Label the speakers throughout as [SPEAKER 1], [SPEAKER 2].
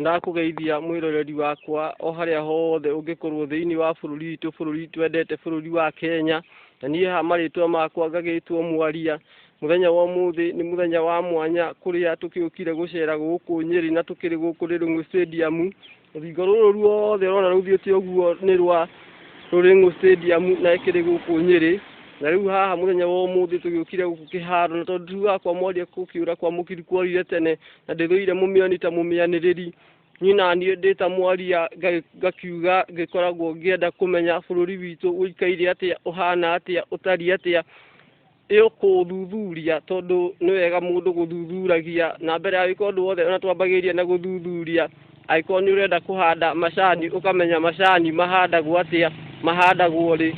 [SPEAKER 1] Ndakũgeithia mwĩroreri wakwa o harĩa hothe ũngĩkorwo thĩinĩ wa bũrũri witũ bũrũri twendete bũrũri wa Kenya na niĩ haha marĩtwa makwa ngagĩtwo mwaria mũthenya wa ũmũthĩ nĩ mũthenya wa mwanya kũrĩa tũkĩũkire gũcera gũkũ Nyeri na tũkĩrĩ gũkũ Rĩrĩng'ũ Stadium rũthingo rũrũ ruothe rona rũthiĩte ũguo nĩ rwa Rũrĩng'ũ Stadium na ĩkĩrĩ gũkũ Nyeri na rĩu haha mũthenya wa ũmũthĩ tũgĩũkire gũkũ kĩharo na tondũ wakwa mwaria gũkĩũra kwa mũkiri kworire tene na ndĩthũire mũmĩoni ta mũmĩanĩrĩri niĩ na niĩ ndĩ ta mwaria ngakiuga ngĩkoragwo ngĩenda kũmenya bũrũri witũ ũikaire atĩa ũhana atĩa ũtariĩ atĩa ĩkũthuthuria tondũ nĩ wega mũndũ gũthuthuragia na mbere ya gwĩka ũndũ wothe ona twambagĩrĩria na gũthuthuria. Angĩkorwo nĩ ũrenda kũhanda macani, ũkamenya macani mahandagwo atĩa, mahandagwo rĩ,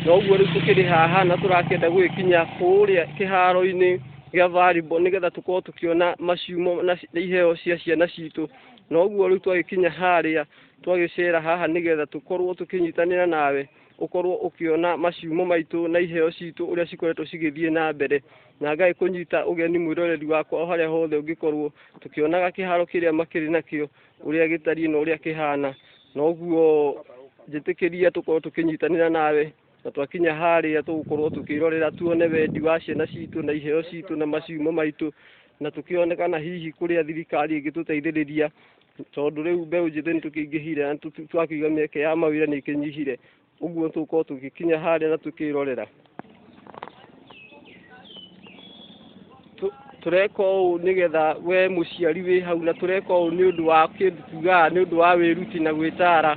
[SPEAKER 1] na ũguo rĩu tũkĩrĩ haha na tũrakĩenda gũgĩkinya kũrĩa kĩharo-inĩ gĩa volleyball nĩgetha tũkorwo tũkĩona maciumo na iheo cia ciana citũ. Na ũguo rĩu twagĩkinya harĩa, twagĩcera haha nĩgetha tũkorwo tũkĩnyitanĩra nawe, ũkorwo ũkĩona maciumo maitũ na iheo citũ ũrĩa cikoretwo cigĩthiĩ na mbere. na Ngai kũnyita ũgeni mwĩroreri wakwa o harĩa hothe ũngĩkorwo, tũkĩonaga kĩharo kĩrĩa makĩrĩ nakĩo, ũrĩa gĩtariĩ na ũrĩa kĩhana. Na ũguo njĩtĩkĩria tũkorwo tũkĩnyitanĩra nawe, na twakinya harĩa tũgũkorwo tũkĩrorera tuone wendi wa ciana citũ na iheo citũ na maciumo maitũ, na tũkĩone kana hihi kũrĩa thirikari ĩngĩtũteithĩrĩria, tondũ rĩu mbeũ njĩthĩ nĩ tũkĩingĩhire na twakiuga mĩeke ya mawĩra nĩ ĩkĩnyihire. ũguo tũkorwo tũgĩkinya harĩa na tũkĩrorera tũreka ũũ nĩgetha we mũciari wĩ hau na tũreka ũũ nĩ ũndũ wa kĩndũ tugaga nĩ ũndũ wa wĩruti na gwĩtara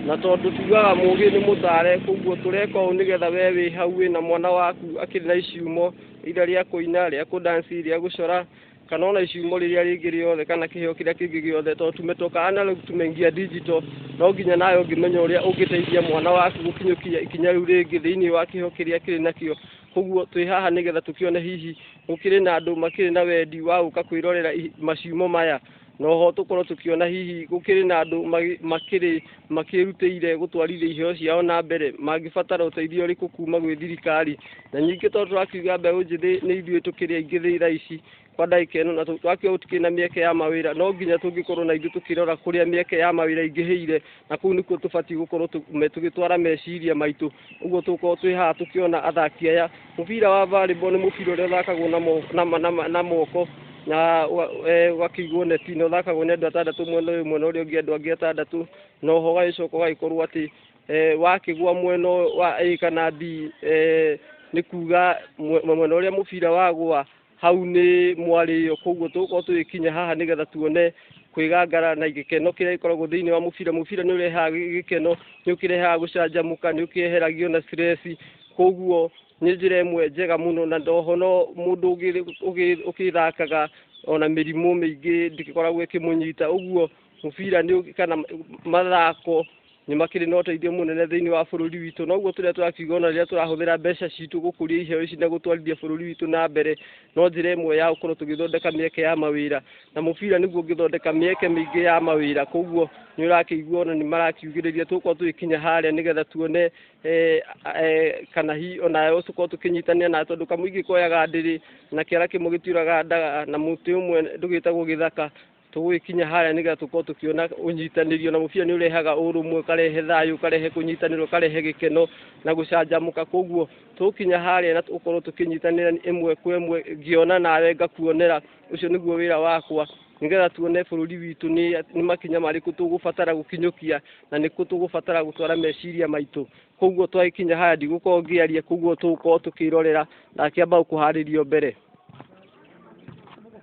[SPEAKER 1] na tondũ tugaga mũgĩ nĩ mũtare koguo tũreka ũũ nĩgetha we wĩ hau wĩ na mwana waku akĩrĩ na icumo ira rĩa kũina rĩa kũdansi rĩa gũcora kana ona iciumo rĩrĩa rĩngĩ rĩothe kana kĩheo kĩrĩa kĩngĩ gĩothe tondũ tũmetoka ana rĩu tumeingia digital no nginya nawe ũngĩmenya ũrĩa ũngĩteithia mwana waku gũkinyũkia ikinya rĩu rĩngĩ thĩinĩ wa kĩheo kĩrĩa kĩrĩ nakĩo koguo twĩ haha nĩgetha tũkĩone hihi gũkĩrĩ na andũ makĩrĩ na wendi wa gũka kwĩrorera maciumo maya no ho tũkorwo tũkĩona hihi gũkĩrĩ na andũ makĩrĩ makĩrutĩire gũtwarithia iheo ciao na mbere mangĩbatara ũteithio ũrĩkũ kuma gwĩ thirikari na ningĩ tondũ tũrakiuga mbeũ njĩthĩ nĩ ithuĩ tũkĩrĩ aingĩ thĩ thaa ici kwa ndagĩka ĩno na twakiuga gũtikĩrĩ na mĩeke ya mawĩra no nginya tũngĩkorwo na ithuĩ tũkĩrora kũrĩa mĩeke ya mawĩra ingĩhĩire na kũu nĩkuo tũbatiĩ gũkorwo tũgĩtwara meciria maitũ ũguo tũkorwo twĩ haha tũkĩona athaki aya mũbira wa volleyball nĩ mũbira ũrĩa ũthakagwo na moko na e, ũgakĩigwo neti na ũthakagwo nĩ andũ atandatũ mwena ũyũ mwena ũrĩa ũngĩ andũ angĩ atandatũ na oho ũgagĩcoka ũgagĩkorwo atĩ e, wakĩgwa mwena wa A kana B e, nĩ kuga mwena ũrĩa mũbira wagwa Hau nĩ mwarĩo, koguo tũgũkorwo tũgĩkinya haha nĩgetha tuone kwĩgangara na gĩkeno kĩrĩa gĩkoragwo thĩinĩ wa mũbira. Mũbira nĩ ũrehaga gĩkeno, nĩ ũkĩrehaga gũcanjamũka, nĩ ũkĩeheragia ona stress. Koguo nĩ njĩra ĩmwe njega mũno na oho no mũndũ ũgĩthakaga ona mĩrimũ mĩingĩ ndĩgĩkoragwo ĩkĩmũnyita. Ũguo mũbira kana mathako nĩ makĩrĩ na ũteithio mũnene thĩinĩ wa bũrũri witũ na ũguo tũrĩa tũrakiuga ona rĩrĩa tũrahũthĩra mbeca citũ gũkũria iheo ici na gũtwarithia bũrũri witũ na mbere no njĩra ĩmwe ya gũkorwo tũgĩthondeka mĩeke ya mawĩra na mũbira nĩguo ũngĩthondeka mĩeke mĩingĩ ya mawĩra koguo nĩ ũrakĩigua ona nĩ marakiugĩrĩria tũgũkorwo tũgĩkinya harĩa nĩgetha tuone eh, eh, kana hi ona tũkorwo tũkĩnyitania na tondũ kamũingĩ koyaga ndĩrĩ na kĩara kĩmwe gĩtiũraga ndaga na mũtĩ ũmwe ndũgĩtagwo gĩthaka tũgũgĩkinya harĩa nĩgetha tũkorwo tũkĩona ũnyitanĩrio na mũbira nĩ ũrehaga ũrũmwe ũkarehe thayũ ũkarehe kũnyitanĩra ũkarehe gĩkeno na gũcanjamũka koguo tũgũkinya harĩa na tũkorwo tũkĩnyitanĩra ĩmwe kwa ĩmwe ngĩona nawe ngakuonera ũcio nĩguo wĩra wakwa nĩgetha tuone bũrũri witũ nĩ makinya marĩkũ tũgũbatara gũkinyũkia na nĩkũ tũgũbatara gũtwara meciria maitũ koguo twagĩkinya haya ndigũkorwo ngĩaria koguo tũgũkorwo tũkĩrorera na akĩamba gũkũharĩrio mbere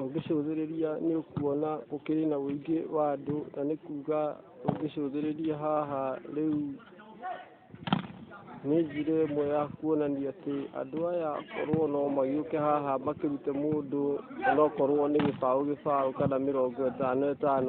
[SPEAKER 1] Ũngĩcũthĩrĩria nĩ ũkuona gũkĩrĩ na ũingĩ wa andũ na nĩ kuga ũngĩcũthĩrĩria haha rĩu nĩ njĩra ĩmwe ya kuonania atĩ andũ aya korwo no magĩũke haha makĩrute mũndũ onokorwo nĩ gĩbaũ gĩbaũ kana mĩrongo ĩtano ĩtano.